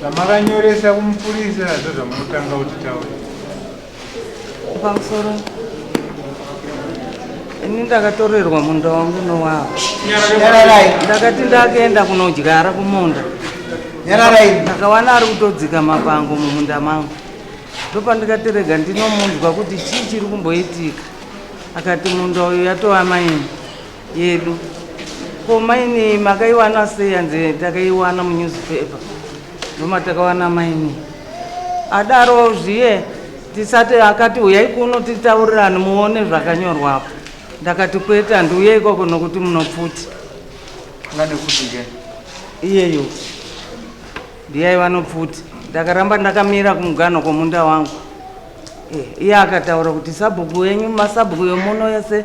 zvamakanyoresa kumupurisa zvo zvamunotanga kuti taura pamusoro ini ndakatorerwa munda wangu nowavo ndakati ndakaenda kunodyara kumunda ndakawana ari kutodzika mapango mumunda mangu ndopandikati rega ndinomunzwa kuti chii chiri kumboitika akati munda uyu yatova maini yedu ko maini makaiwana sei hanzi takaiwana munewspaper ndomatakawana maini adaro zviye tisati akati uyai kuno titaurirane muone zvakanyorwapo ndakati kwete handiuye ikoko nokuti munopfuti iyeyo ndiyai vanopfuti ndakaramba ndakamira kumuganho kwomunda wangu eh, iye akataura kuti sabhuku wenyu masabhuku yomuno yese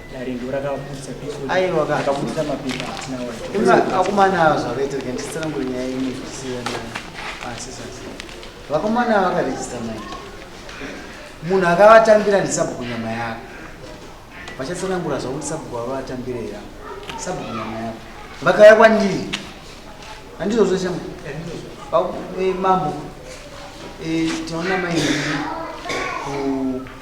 akomana zvakaitira ndisitsanangure nyaya imwe zvichisiyana asisasi vakomana vakarejista mai munhu akavatambira ndisabhuku nyama yako vachatsanangura zvakuti sabhuku vavatambire ya sabhuku nyama yako vakauya kwandiri handizvozvo shama eh, mambo eh, tinoona mai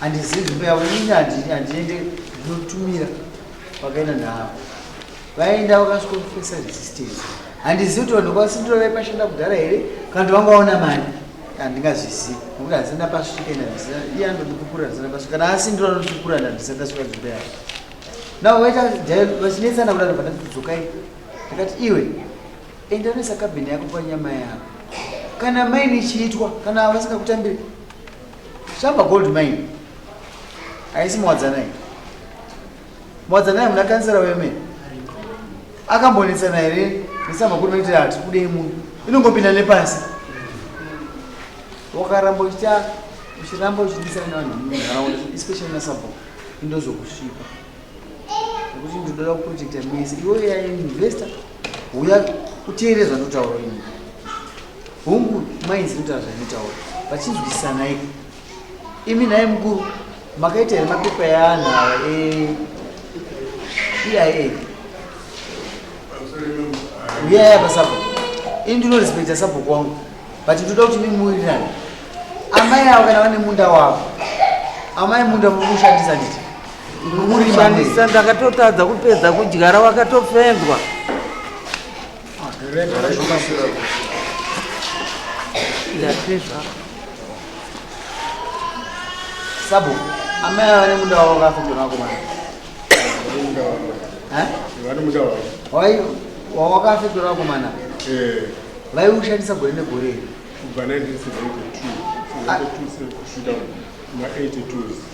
Handizivi nzvimbo yavo ini handiende ndinotumira vakaenda navo vaenda vakasvika kufesa resistance handizivi kuti vanhu kwasindiro vaipashanda kudhara here kana kuti vangaona mari handingazvizivi nokuti hazina pasvika ina hazina iye anondipupura hazina pasvika kana asindiro anondipupura handisakasvika nzvimbo yavo navo vaita vachinetsana kudaro vana kudzokai ndakati iwe enda unoisa kabhini yako panyama yako kana maini ichiitwa kana vasingakutambiri Shamba gold mine. Haisi Mwadzanai. Mwadzanai muna kansera weme. Akambonetsana here nesamba kuri maitira ati kudei munhu. Inongopinda nepasi. Wakaramba uchiita uchiramba uchidisana nevanhu munharaunda especially nasabho indozokusvipa. Kuti ndoda kuprojecta mese. Iwe ya investor uya uteere zvandotaura ini. Hungu mainzi ndotaura zvandotaura. Vachinzwisisana iko. Imi naye mukuru makaita here mapepa eanhu ava e EIA. Uya ya pasapo. Ini ndinorespekta sapo kwangu. But ndoda kuti mimuwirirane. Amai avo kana vane munda wavo. Amai munda muri kushandisa nditi. Shandisa ndakatotadza kupedza kudyara wakatofendwa. Ndapezva. Sabu, amai ava nemuda wavo vakafendwa nako mwana. Eh? Vane muda wavo. Wai wawakafendwa nako mwana. Eh. Vaiushandisa gore negore. Kubva 1972. 1972 kusvika ma 82.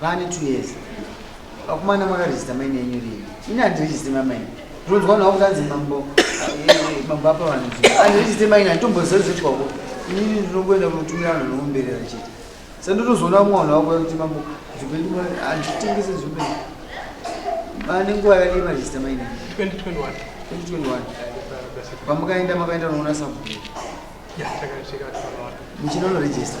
Vane two years. Akumana makaregister maine yenyu rini? Ini handiregister mamaine. Ndinonzwa nawo kuti anzi mambo mambo apa vanhu. Handiregister maine handitomboziva zvoitwa ko. Ini ndinongoenda kunotumira vanhu vanomuberera chete. Saka ndotozoona umwe vanhu vakuya kuti mambo zvipeni handitengese zvipeni. Vane nguva yakadii maregister maine? 2021. 2021. Pamukaenda makaenda unoona sabhuku. Yeah, takasvika takaona. Muchinonoregister.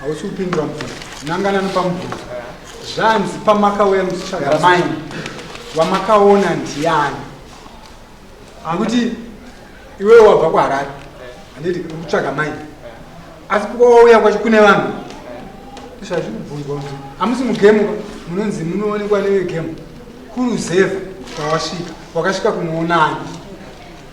Hausi kupindura mubvunzo. Nanganani pamubvunzo. Zvanzi pamakauya muchitsvaga mai vamakaona ndiani? Akuti iwewe wabva kuHarare. Handiti kutsvaga mai. Asi kwauya kwacho kune vanhu. Zvazvi kubvunzwa kuti hamusi mugemu munonzi munoonekwa nevegemu kuruzevha kwawasvika wakasvika kunoonani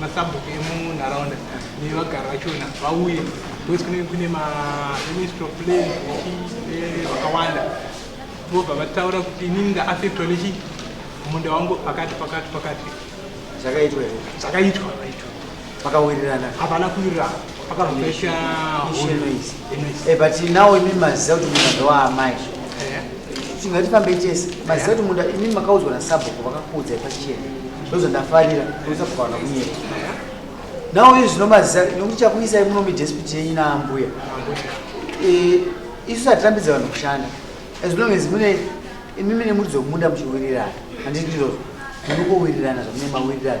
masabhuku emunharaunda nevagari vachona vauye because kunenge kune maministry of plan eh, vakawanda vobva vataura kuti inini ndaaffectwa nechi munda wangu pakati pakati pakati zvakaitwa zvakaitwa vakawirirana hapana kuwirirana pakazopesha Eh, but now imi maziva kuti munda ndowaamai tingatifambei tese maziva kuti munda imi makaudzwa nasabhuku vakakuudzai pachena ndozvandafarira ndosabhukawana kunyeka now izvi zvinomaziva nokuti chakuisai muno midespiti yenyu naambuya eh, isu satitambidza vanhu kushanda as long as mune imi mine muridzo wemunda muchiwirirana handiti ndizvozvo munokowirirana zvamune mawirirana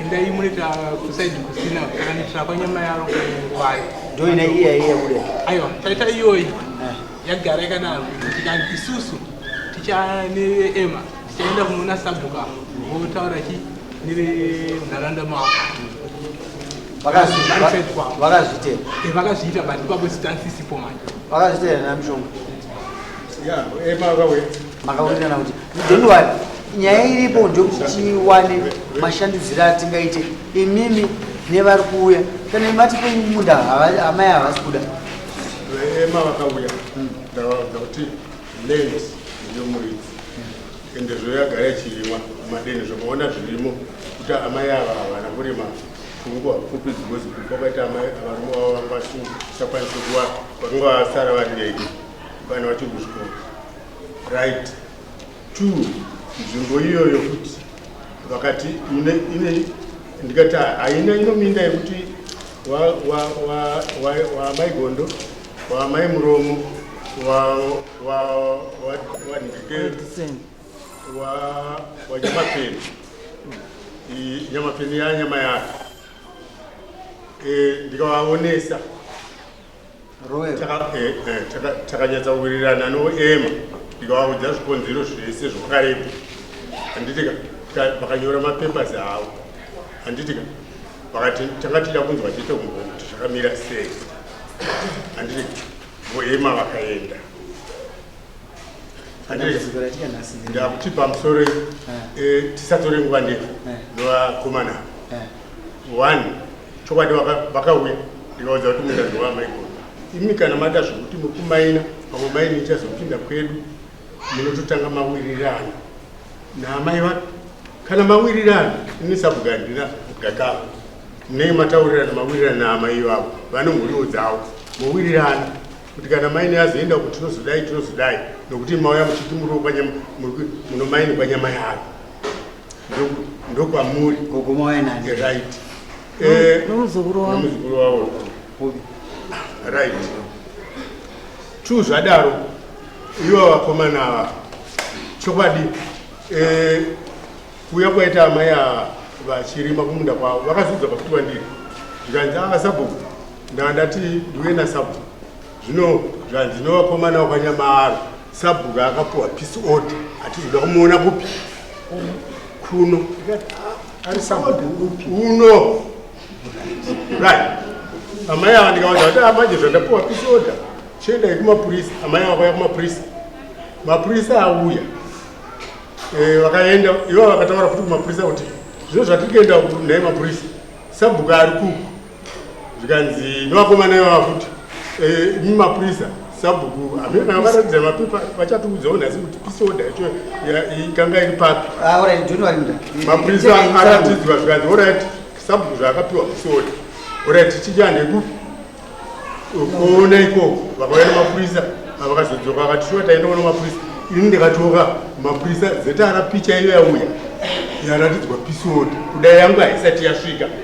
Endai munoita kusaidi kusina kukanitira kwanyama yaro kwayo. Ndio ina iya iya kule. Aiwa, taita iyoyi. Eh. Yagara yakadaro. Tikati isusu tichane Emma. Tichaenda kunoona sabhuka. Votaura chi nevenharaunda mavo. Vakazviita. Eh, Vakazviita but ipapo stance isipo manje. Vakazviita na mshonga. makawirirana kuti don't worry nyaya iripo ndekuti tiwane mashandudziro atingaite imimi nevari kuuya kana imati pemunda amai havasi kuda ema vakauya hmm. ndavaudza kuti land ndiyo muridzi ende zvoyagara ichirimwa madeni zvakaona zvirimo kuti amai ava havana kurima pfungwa pfupi dzikozi kupa kwaita amai avarume vavo vanga vasingakwanisi kuva vakanga vasara vari vega vana vacho kuzvikoro right two nzvimbo iyoyo kuti vakati ine ndikati haina inominda yekuti waamai gondo waamai muromo wanyamapeni nyamapeni yanyama yake eh, ndikavaonesa Royal. Taka- eh, eh, taka- takanyatsa kuwirirana noema ndikavaudza zvikonzero zvese zvevakarepo handitika vakanyora mapapers avo handitika vakati tanga tida kunzwa chete kumbo kuti zvakamira sei handitika voema vakaenda Dambudziko ratika nhasi ndiri- ndakuti pamusoro eh, tisatore nguva ndefu Eh. novakomana Eh, one chokwadi vakauya ndikaudza kuti munda ndowamaigona imi kana mada zvekuti mukumaina pamwe maini ichazopinda kwedu munototanga mawirirana naamai vake kana mawirirana ini sabhuga handina gakava munenge mataurirana mawirirana naamai vavo vane mhuriwo dzavo mowirirana kuti kana maini azoenda kuti tinozodai tinozodai nokuti mauya muchiti muri munomaini kwanyama yavo ndokwamuri gogomo wainani right eh, nomuzukuru wavo nomuzukuru wavo right two zvadaro ivo vakomana ava chokwadi eh, kuuya kwaita amai ava vachirima kumunda kwavo vakazudza pakuti vandiri zvikanzi ava ah, sabhuku ndava ndati ndiuye nasabhuku zvino zvanzi nevakomana wakwanyamaaro sabhuku akapuwa peace order ati zvoda kumuona kupi kuno ari sabhuku upi uno right amai ava ndikavaza kuti amanje ah, zvandapuwa peace order chiendai kumapurisa amai ava kwaya kumapurisa mapurisa auya eh, vakaenda ivo vakataura futi kumapurisa kuti zvino zvatiri kuenda naye mapurisa sabhuku ari kuku zvikanzi nevakomana ivava futi eh, imi mapurisa sabhuku hamene vanga varatidza mapepa vachatiudzawo nhasi kuti peace order yacho ikanga iri papi ah, mapurisa aratidzwa zvikanzi orit sabhuku zvaakapiwa peace order orit tichande kupi kuona ikoko vakauya nemapurisa avakazodzoka vakati shuwa taendawo nemapurisa ini ndikatoka mapurisa zeta rapicha iyo yauya yaratidzwa peace order kudai yangu haisati yasvika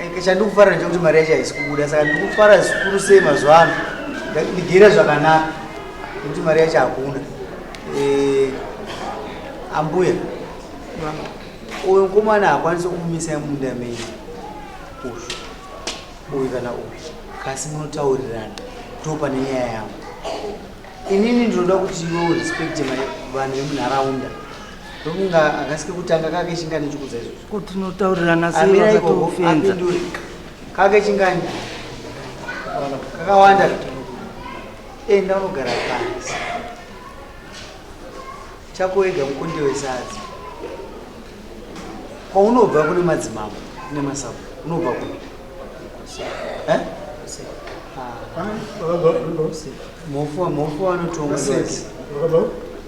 Eh, chandikufara ndechekuti mari yacho haisi kubuda saka ndikufara zvikuru sei mazuva ano ndigere zvakanaka nekuti mari yacho hakuna eh, ambuya uyu mukomana hakwanisi kumumisa munda mei uyu uyu kana uyu kasi munotaurirana ndo pane nyaya yangu inini ndinoda kuti iwe urespecte vanhu vemunharaunda ndokunga akasi kekutanga kake chingani chikudza izvozvo ko tinotaurirana seakatofenza kake chingani kakawanda enda unogara pasi chako ega mukundi wesadza kwaunobva kune madzimambo kune masabu unobva kune eh? ah. mofu mofu anotonga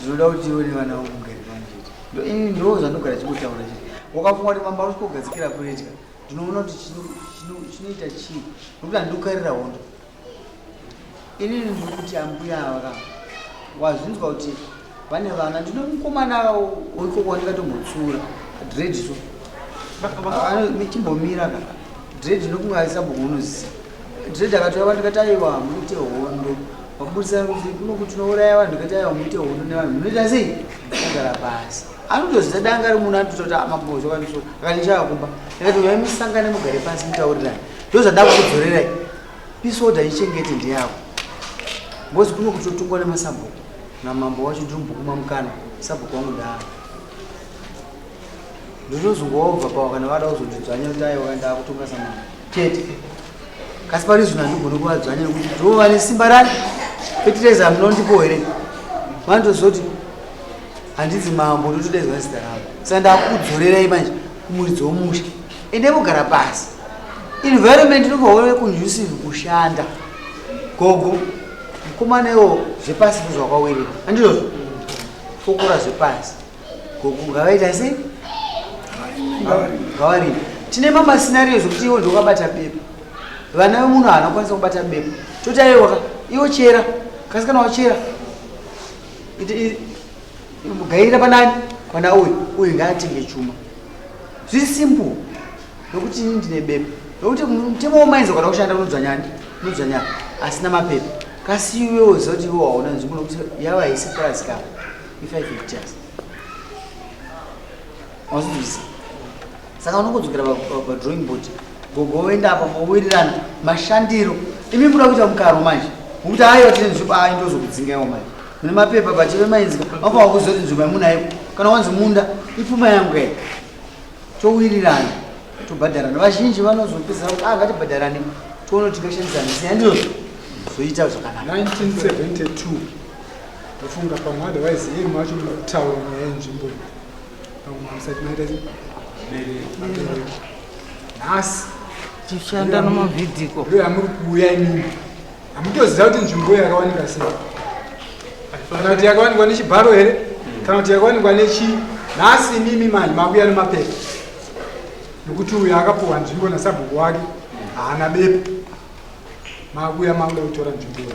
Zvinoda kuti iwe nevana vangu mugare panjeti. Ini ndoo zvanogara chikutaura chii. Wakafunga kuti mamba usiko gadzikira kuredya. Ndinoona kuti chinoita chii. Nokuti andukarira hondo. Ini ndikuti ambuya ava wazvinzwa kuti vane vana ndinomukomana wiko kwandikatomutsura dread so. Chimbomira ka. Dread nokunga aisabukunuzi. Dread akatora vanhu tikati aiwa muite hondo vaburitsa kuti kuno kuti tinouraya vanhu tikati aiwa muite hondo nevanhu munoita sei kugara pasi anotozita danga ari munhu anotototi amabozvo ah, kaniso akanichava kumba akati uyai musangane mugare pasi mutaurirani ndo zvandakuzorerai pisoda ichengete ndeyako ngozi kuno kuti totungwa nemasabhuku namambo wacho ndiri mubhuku mamukana sabhuku wangu ndaava ndozozongova pawa kana vada kuzondidzvanya kuti aiwa kana ndakutonga samana chete kasi pari zvino handigoni kuvadzvanya nekuti ndova nesimba rani fetireza munondipo here vanotozoti handinzi mambo ndotodaidzwa zita rangu saka ndakukudzorerai manje kumuridzi womusha ende kugara pasi environment inovaona conducive kushanda gogo mukomana iwo zvepasi zvakawirira andizvozvo fokora zvepasi ngavaita sei ngavarima tine mama scenario zvekuti iwo ndokabata bepa vana vemunhu haana kukwanisa kubata bepa toti aiwaka iwo chera kasi kana wachera gairira panani pana uyu uyu ngaatenge chuma zviri simple nokuti ini ndine bepa nokuti mutemo womainza kana kushanda unodzvanyani unodzvanyana asina mapepa kasi iwewo zoti iwo hauna nzvimbo nokuti yava haisi purazi kava If I could just. Wazvizvi. Saka unokodzokera pa drawing board. Gogo woenda apa mowirirana mashandiro. Imi muda kuita mukaro manje. Ngokuti hayi watine nzvimbo ayo ndozokudzingaiwo manje. Mune mapepa pacheve mainzika. Vapa wakuzoti nzvimbo yamunayo. Kana wanzi munda ipfuma yangu kai. Towirirana. Tobhadharana. Vazhinji vanozopedzera kuti ah ngatibhadharane. Tione kuti tingashandisana. Siyandiro. Zoita zvakanaka. 1972. ndofunga pamwe otherwise iye macho mukutaura nyaya yenzvimbo iyi pamwe musati maita mabereko nhasi tichanda nomavhidhiko ndo yamuri kuuya imimi hamutoziva kuti nzvimbo iyo yakawanika sei kana kuti yakawanikwa nechibharo here kana kuti yakawanikwa nechi nhasi imimi manje makuya nemapepa nokuti uyo akapuhwa nzvimbo nasabhuku wake haana bepa makuya makuda kutora nzvimbo iyo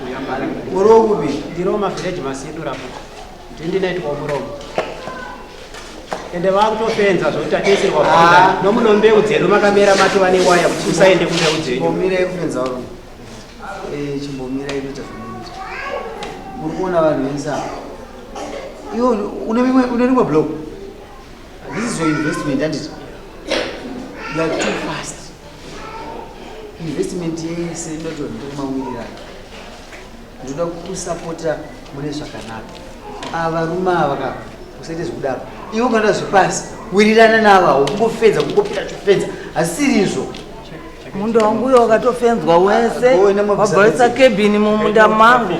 Muromo bi ndiro ma village masidu rapo. Ndindi naitwa muromo. Ende vakutofenza zvokuti ateserwa ah. nomuno mbeu dzedu makamera mati vane waya kuti usaende kumbeu dzenyu. Chimbomira yekufenza waro. Eh chimbomira yekuita zvinoita. Muri kuona vanhu venza. Iwo une rimwe blog. This is your investment handiti? You are too fast. Investment yese inoti ndokumawirirana. Ndoda kukusapota mune zvakanaka. Ava varume ava ka usaite zvekudaro. Iwe ukanda zvepasi wirirana navo awo kungofedza kungopera chofedza. Hasiri izvo. Munda wangu uyo wakatofenzwa wese wabvaisa kebhini mumunda mangu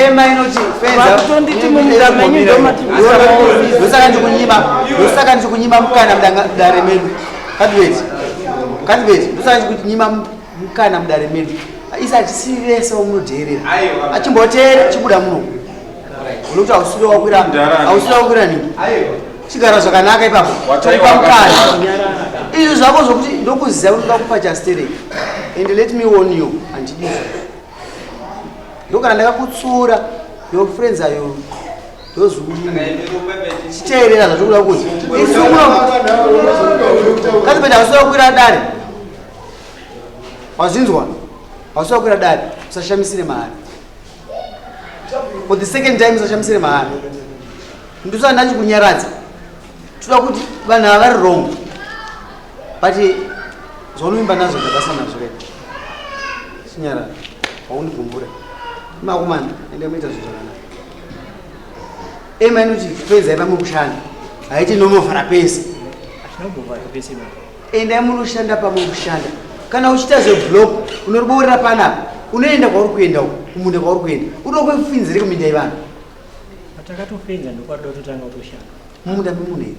ema inoti fenzatonditi mumunda menyu ndomatiosaka ndikunyima ndosaka ndikunyima mukana mudare medu kadibeti kadibeti ndosaka ndikunyima mukana mudare medu isa tisiri vese vamunodheerera achimboteera chibuda muno unokuti ausiri wakwira ausiri wakwira nini chigara zvakanaka ipapo taipa mukana izvi zvako zvokuti ndokuziva kuti ndakupa chastereki and let me warn you handidi ndokana ndakakutsura your friends are you those who chiteerera zvatikuda kuti kati penda wasuda kukwira dare wazvinzwa wasuda kukwira dare usashamisire mahari for the second time sachamisire mahara ndosana ndachikunyaradza toda kuti vanhu ava vari wrong but zvaunoimba nazvo ndabasa nazvo rega chinyarara haundigumbure makumana ende muita zvinhu zvakanaka ema inoti penzai pamwe kushanda haiti nomovhara pese Endai munoshanda pamwe kushanda. Kana uchita zve block unoriboorera panapa. Unoenda kwauri kuenda uko, kumunda kwauri kuenda. Unokuwa kufinzire kuminda yevanhu. Takatofinza ndokwari dototanga kutoshanda. Mumunda memunhu here?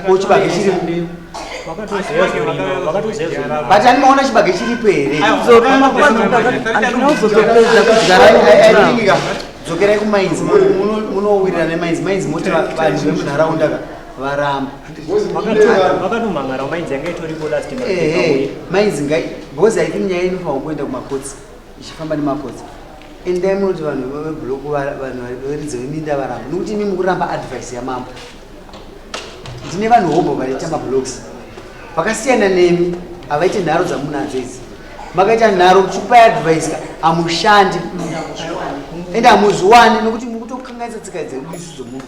Ko chibage chiripo? But ani maona chibage chiripo here? Dzokerai kumainzi, munowirirana nemainzi, mainzi moti vanhu vemunharaunda ka. varamba makatomhan'ara mainzi yanga itoripo last mainzi ngai because i think nyaya inofanirwa kuenda kumakotsi ichifamba nemakotsi endai munoti vanhu vebloku vanhu varidzo veminda varamba nokuti imi mukuramba advice yamambo ndine vanhu hobho vanoita mablocks vakasiyana nemi havaite nharo dzamunadzo idzi makaita nharo kuchipa advice hamushandi ende hamuzviwani nokuti mukutokangaisa tsika dzedu isu dzomunhu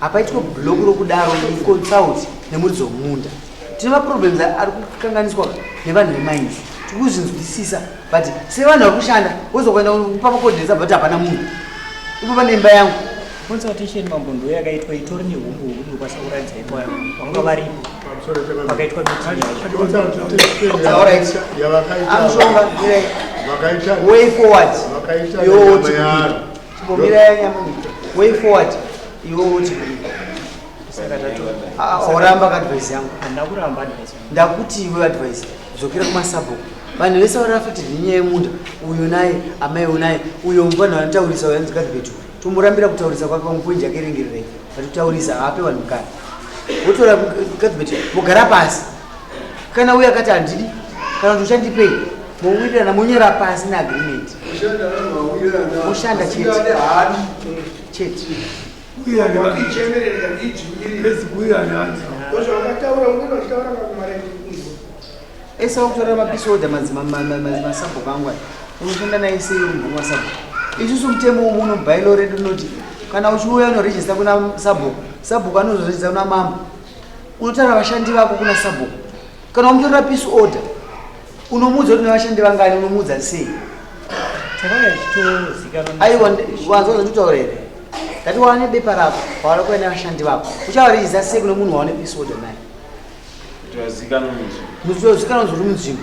hapaitwe block rokudaro consult nemuridzi wemunda tine maproblems ari kukanganiswa nevanhu vemainzi tiri kuzvinzwisisa but sevanhu vari kushanda wozokuenda kupa makodinetsa but hapana munhu ipo pane imba yangu consultation mambo ndo yakaitwa itori nehumbu huru ndokwanisa kuratidza ipo yangu vanga varipo pakaitwa mitinyavakaita way forward yooti Chimbomira nyamuni. Way forward. Iwe uti saka tato. Ah, oramba ka advice yangu. Ndakuramba advice. Ndakuti iwe advice. Dzokera kuma sabo. Vanhu vese vari affected nenyaya yemunda. Uyo naye, amai unaye, uyo mvana vanotaurisa uyo anzi kadhibetu. Tumurambira kutaurisa kwake pamupoinji yake rengererei. Vatutaurisa haape vanhu mukana. Votora kadhibetu vogara pasi. kana uye akati handidi kana kuti uchandipei mowirirana monyera pasi neagreement moshanda chete chete ese wakutora mapisi oda mazimasabho kangwa unoshanda naye seyombunwa sabho isusu mutemo womu unobailo redu unoti kana uchiuya unorejista kuna sabho sabhuku anozorejista kuna mambo unotaura vashandi vako kuna sabhuku kana wamutorera peace order unomuudza kuti nevashandi vangani unomuudza sei aiwa wanzwa zvanditaura here ndati waane bepa rako wawana kuva nevashandi vako uchavariiza sei kune munhu wawane peace order naye mutozikanwa nzvimbo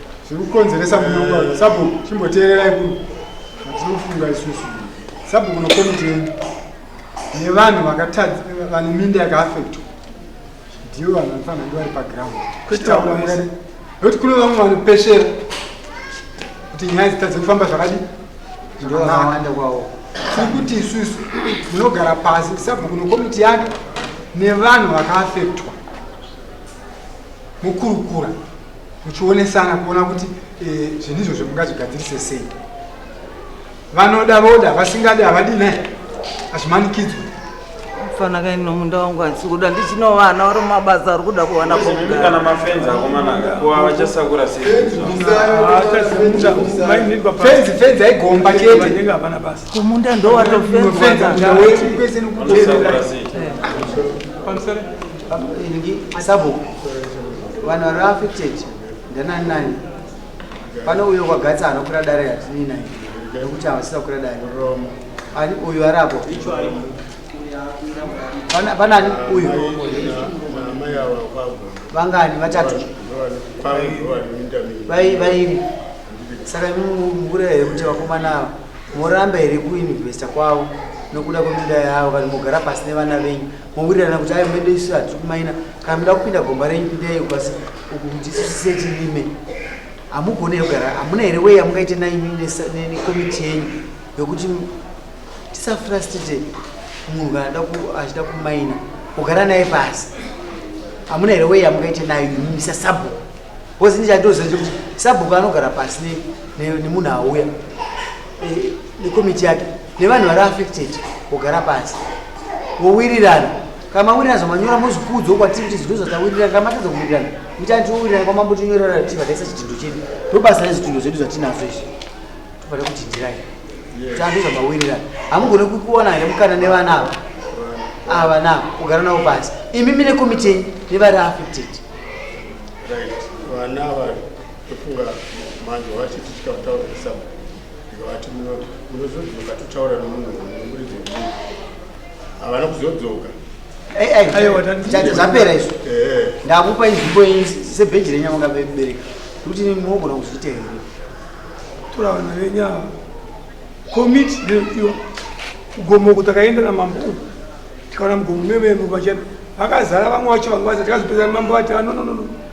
zviri kukonzeresa munyonga eh. sabhuku chimboteererai kuno hatiri kufunga isusu sabhuku nokomiti yenyu nevanhu vakatadza vane minda yakaafektwa ndivo vanhu vanofanira ndi vari paground kutaura mukati nokuti kune vamwe vanopeshera kuti nyaya dzitadze kufamba zvakadi zvakanaka kwavo tiri kuti isusu munogara pasi sabhuku nokomiti yake nevanhu vakaafektwa mukurukura muchionesana kuona kuti eh, zvinhu izvozvo mungazvigadzirise sei vanoda voda vasingadi havadi ne hazvimanikidzwe mfana kaini nomunda wangu hansi kuda ndichino vana vari mumabasa ari kuda kuwana kana mafenzi akomanaka kuva vachasakura seifenzi fenzi aigomba chete kumunda ndowatofenzi sabhuku vanhu vari affected ndanani nani pane uyo kwagatsa anokura dare yatinii nai nekuti havasisa kura dare ani uyu ari apo pane ani uyu vangani vatatu vairi saka mukura here kuti vakomana ava moramba here kuinvesta kwavo nokuda kweminda yavo kana mogara pasi nevana venyu mowirirana kuti ayo mende isu hatiri kumaina kana muda kupinda gomba renyu pindai kwasi uku kuti isu tisetirime hamugone kugara hamuna here wei yamungaite naimi nekomiti yenyu yokuti tisafrastite munhu kana da achida kumaina kugara naye pasi hamuna here wei yamungaite nayo imimi sasabhuku bcause ndichandoziva chekuti sabhuku anogara pasi nemunhu auya eh, nekomiti yake nevanhu vari affected kugara pasi vowirirana kana mawirirana zvamanyora mozvikuudzwo kwatiri kuti zvinhu zvatawirirana kana matadza kuwirirana mitani tiwowirirana kwamambo tinyorera tiva taisa chidhindo chedu ndobasa rezvitundo zvedu zvatinazvo izvi tofana kudhindirai tando zvamawirirana hamugone kukuwana here mukana nevana ava ava na kugara navo pasi imi mine komiti yenyu nevari affected right vana vari Tofunga manje wavachiti tichika kutaura nesabu ndikavati munozodzoka totaura nomunhu nomuridzo wemunhu havana kuzodzoka zvapera izvo eh. ndakupa inzvimbo yenyu sebheji renyu amanga bebereka kuti mogona kuzviita here toravana venyu ava komiti ndoiwa kugomoko takaenda namambo uku tikaona mugomo mememo vachena vakazara vamwe vacho vanga vazati kazopedzana mambo vati vanononono ah,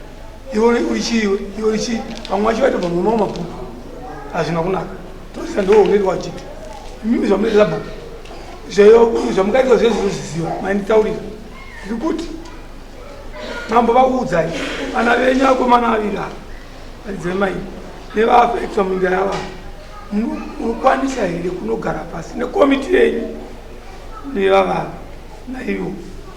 iwe uri chii iwe iwe uri chii vamwe vacho vaitobva mumao mabhuku hazvina kunaka tosisa ndiwo unoita wachiti mimi zvamunoita zabhuku zvamukaita zve zvinozviziva mainditaurira ndiri kuti mambo vakuudzai vana venyu akomana aviri ava vaidzai mai nevaafekta munyika yava munokwanisa here kunogara pasi nekomiti yenyu nevavava naivo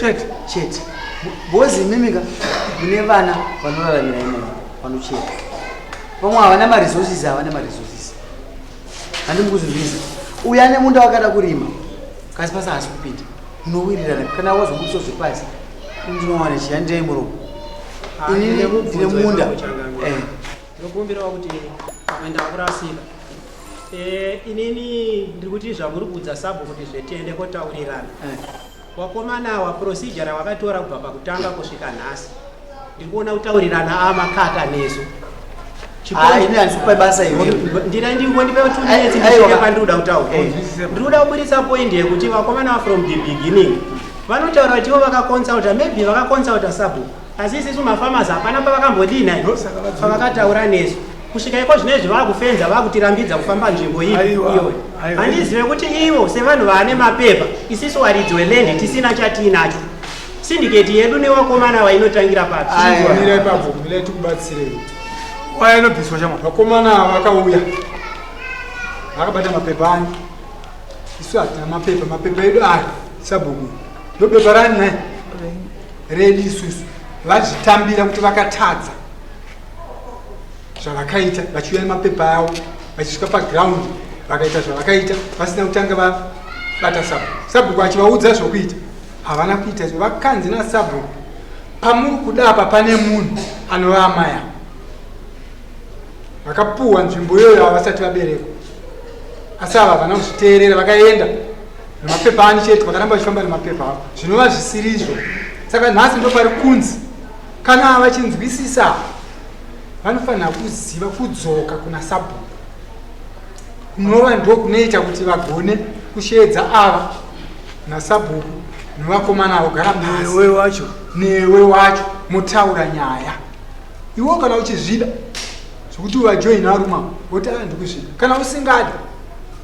chete chete bozi imimika mune vana vanoraramira imomo vanocheka vamwe havana maresources havana maresources handimukuzivisa uyo ane munda wakada kurima kasi pasi haasi kupinda unowirirana kana wazobudiso zvepasi ndinowana chiya ndei muromo ah, ini ndine munda eh. ndinokumbirawo kuti pamenda wakurasika eh, inini ndiri kuti zvamuri kuudza sabho kuti zvetiende kotaurirana eh. Wakomana awa procedure rawakatora kubva pakutanga kusvika nhasi ndiri kuona kutaurirana amakaka nesu ndira ndingondipe tuneepandirikuda kutaura ndiri kuda kuburitsa point yekuti vakomana from the beginning vanotaura kuti ivo vakaconsulta maybe vakaconsulta sabhuku asi isisu mafamasi hapana pavakambodii nai pavakataura nesu kusvika iko zvine izvi vakufenza vakutirambidza kufamba nzvimbo iyi iyo handizive kuti ivo sevanhu vaane mapepa isisu waridzi welendi tisina chatiinacho sindiketi yedu nevakomana vainotangira papiira ipapo mirai tikubatsirei waya inobviswa chama vakomana vakauya vakabata mapepa ani isu hatina mapepa mapepa edu aya sabhuku ndobepa rani nai redi isusu vazvitambira kuti vakatadza zvavakaita vachiuya nemapepa avo vachisvika paground vakaita zvavakaita vasina kutanga vabata sabhuku sabhuku achivaudza zvokuita havana kuita izvo vakanzi nasabhuku pamuri kuda apa pane munhu anova amai avo vakapuhwa nzvimbo iyoyo havasati vaberekwa asi ava havana kuzviteerera vakaenda nemapepa ani chete vakaramba vachifamba nemapepa avo zvinova zvisiri izvo saka nhasi ndo pari kunzi kana vachinzwisisa vanofanira kuziva kudzoka kuna sabhuku kunova ndo kunoita kuti vagone kusheedza ava nasabhuku nevakomana vogara newe wacho newe wacho motaura nyaya iwo kana uchizvida zvekuti uvajoina aruma woti aa ah, ndikuzvida kana usingadi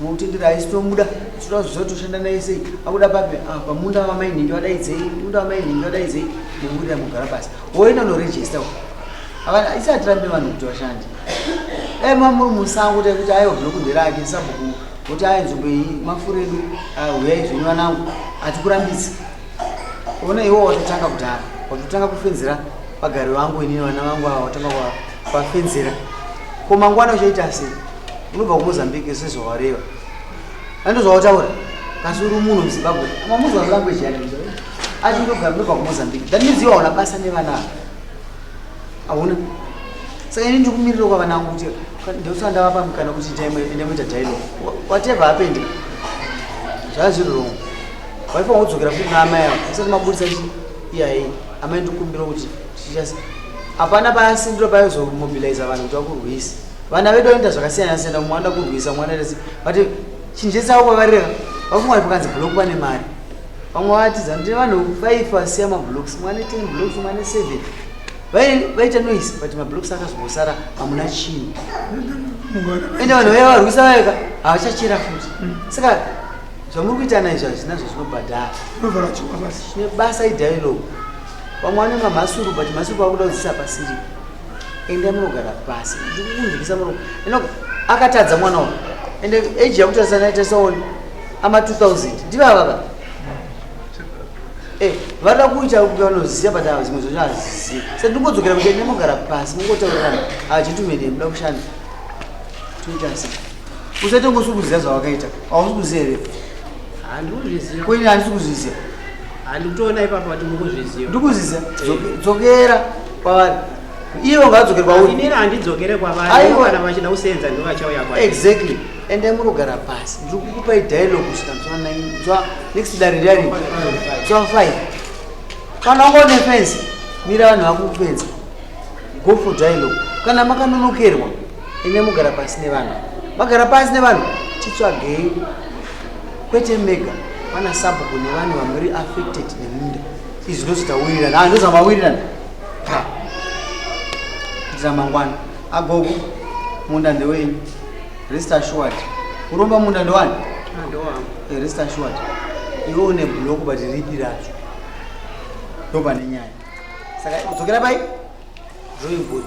Mutendera haisi tomuda tinoda zviziva toshanda naye sei akuda papi ah, pamunda vamainhingi vadaidzei munda vamainhingi vadaidzei muburira mugara pasi woenda unorejista isatirambe vanhu kuti vashande dai mamuri musango tai kuti aiwa bloku nderake sabhuku kuti ayi nzvimbo iyi mafuro edu ah, huyai zvenyu vanangu hatikurambisi ona iwo watotanga kudhara watotanga kufenzera vagari vangu inini vana vangu ava watanga kuvafenzera ko mangwana uchaita sei unobva kumozambique sezvawareva andozvautaura kasi uri munhu muzimbabwe mamuzwa language yake ati ndogara ndobva kumozambique that means iwe hauna basa nevana ava hauna saka ini ndikumirira kwavana angu kuti ndosva ndavapa mukana kuti ndamoita dialog whatever happened zvaa zviri wrong waifa waudzokera futi naamai avo asati maburitsa chi iyayi amai ndikumbira kuti hapana paasindiro payozomobiliza vanhu kuti vakurwisa vana vedu vanoita zvakasiyana siyana mumwe anoda kurwisa mwana rese but chinje chavo kwavareva vakumwari pakanzi block vane mari vamwe vatiza ndi vanhu five vasiya mablocks mwane ten blocks mwane seven vaita noise but mablocks akazongosara hamuna chii ende vanhu vaya varwisa vayeka havachachera futi saka zvamuri kuitana izvi hazvinazvo zvinobhadhara nebasa idialogue vamwe vane mamhasuru but mhasuru vakuda kudzisa pasiri enda munogara pasi ndikukunzwisa muromo inoga akatadza mwana uyu ende age yakutarisa naita saoni ama 2000 ndivavava eh, vada kuita vanoziva but zimwe zvacho hazizivi sa ndingodzokera kuti enda munogara pasi mungotaurirana hachitumene muda kushanda toita sei usaite ngosi kuziva zvawakaita hausi kuziva here koine handisi kuzviziva handikutoona ipapa kuti mukuzviziva ndikuzviziva dzokera kwavari ivo ngadzokere kwauri inini handidzokere kwavari kana vachida kuseenza ndivo vachauya kwa exactly and i murogara pasi ndiri kukupai dialogue kusvika nzwa nai nzwa next dare riari nzwa five kana wanga une fensi mira vanhu vakukufenza go for dialogue kana makanonokerwa ine mugara pasi nevanhu magara pasi nevanhu titsvagei kwete mega pana sabhuku nevanhu vamuri affected nemunda izvi ndozvitawirirana ah, ndozvamawirirana kuitira mangwana agogo munda ndewenyu rest assured kuromba munda ndowani ah, eh, rest assured iwe une block but ripi racho ndopane nyaya saka udzokera pai drawing board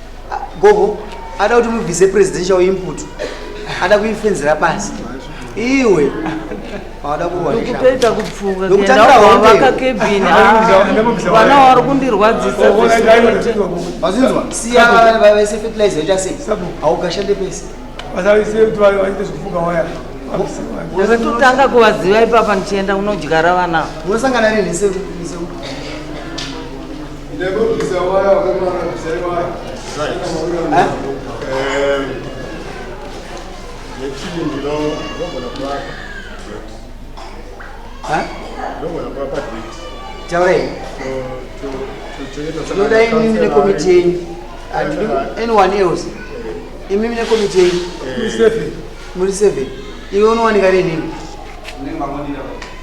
gogo ada kuti mubvise presidential input ada kuifenzera pasi iwe awada kuwanikutoita kupfungavaka kebini vana wari kundirwadzisaazvinzwa siya vana vavese fertilizer yoita sei haugashande pese ndakatotanga kuvaziva ipapa ndichienda kunodyara vana unosangana nini Taurei. Tinoda imimi nekomiti yenyu. Hatidi anyone else. Imimi nekomiti yenyu. Muri seven. Iwe unowanika rinini.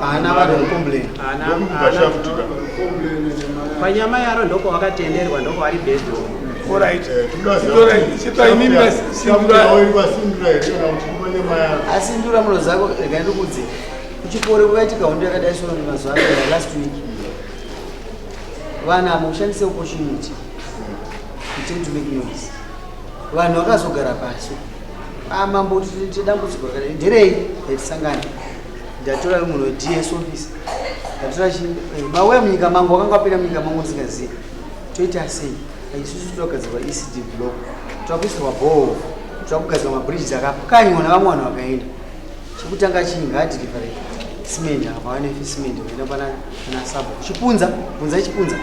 haana vanhu vekucomplaina panyama yaro ndoko wakatenderwa ndoko vari bedo asindura muno zako rega ndikudze kuchikoro kwaitika hondo yakadai sona mazuva ano last week vana mushandise opportunity to make noise vanhu vakazogara pasi amambo ah, kuti dambudziko rakadai nderei yatisangana ndatora munhu weds office ndatora eh, mauya munyika mangu wakanga wapinda munyika mangu ndisingazivi toita sei isusu totogadzirwa ecd block toakuisirwa bhoo toakugadzirwa mabridges akapukanywa navamwe vanhu vakaenda chekutanga chii ngaadilivere cement apa vanefi cement vaenda pana sabho chipunza punza chipunza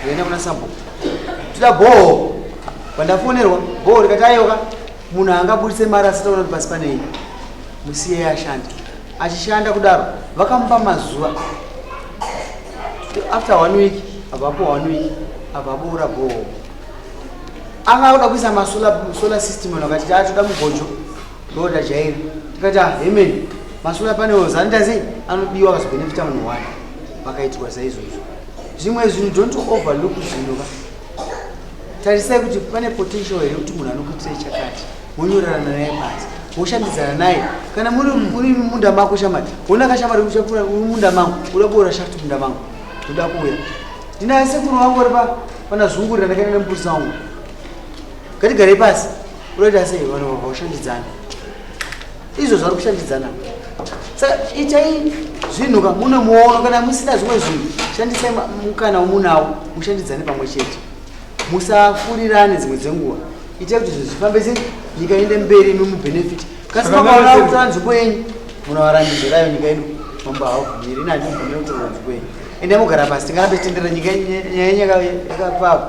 vaenda kuna sabho toda bhoo Pandafonerwa bhoo rikati ayoka munhu haangaburitse mari asitaona kuti pasi panei musiyei ashande achishanda kudaro vakamupa mazuva after one week avapo one week avaboora bhoo anga akuda kuisa masolar system ano akati taatoda mugojo ndoda jairi tikati ahemeni masolar panels anitazei anodiwa vazobhenefita munhu wani vakaitwa saizvozvo zvimwe zvinhu don't overlook zvinhu tarisai kuti pane potential here kuti munhu anokuitirei chakati wonyorerana naye pasi woshandidzana naye kana muri muri munda mako shamari wona ka shamari uchakura munda mangu uda kuora shaft munda mangu ndoda kuuya ndinaye sekuru wangu uri pa pana zungurira ndakaenda nembuzi wangu ngatigarei pasi unoita sei vanhu vakaushandidzana izvo zvari kushandidzana saka itai zvinhu ka mune muono kana musina zvimwe zvinhu shandisai mukana womunawo mushandidzane pamwe chete musafurirane dzimwe dzenguva itai kuti zvinhu zvifambe se nyika inde mberi imi mubhenefiti kasi makaona kutora nzvimbo yenyu munovarandizirayo nyika ino mambo haubvumiri ini handibvumire kutora nzvimbo yenyu ende mogara pasi tingarambe titendera nyika yenyu yakapava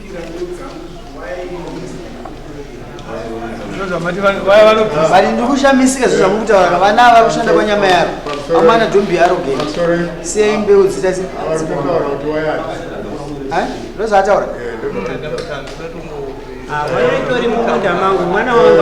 but ndikushamisika zvo zvamukutaura vana ava kushanda kwanyama yaro amana dombi yaro ge sei mbeu dzita ndozaataura vaitori mumunda mangu mwana wangu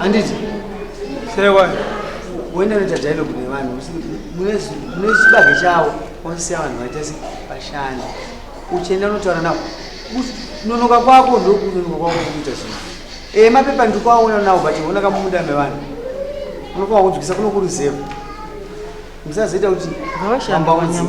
Anditi. Say what? Wenda unoita dialogue nevanhu mune chibage chavo wasiya vanhu vaita se vashandi uchienda unotaura navo kunonoka kwako ndokunonoka kwako kuita zvinhu e mapepa ndikuaona nawo but ona kamumunda mevanhu unofanira kunzwisa kunokuruzeva musazoita kuti ambaunzike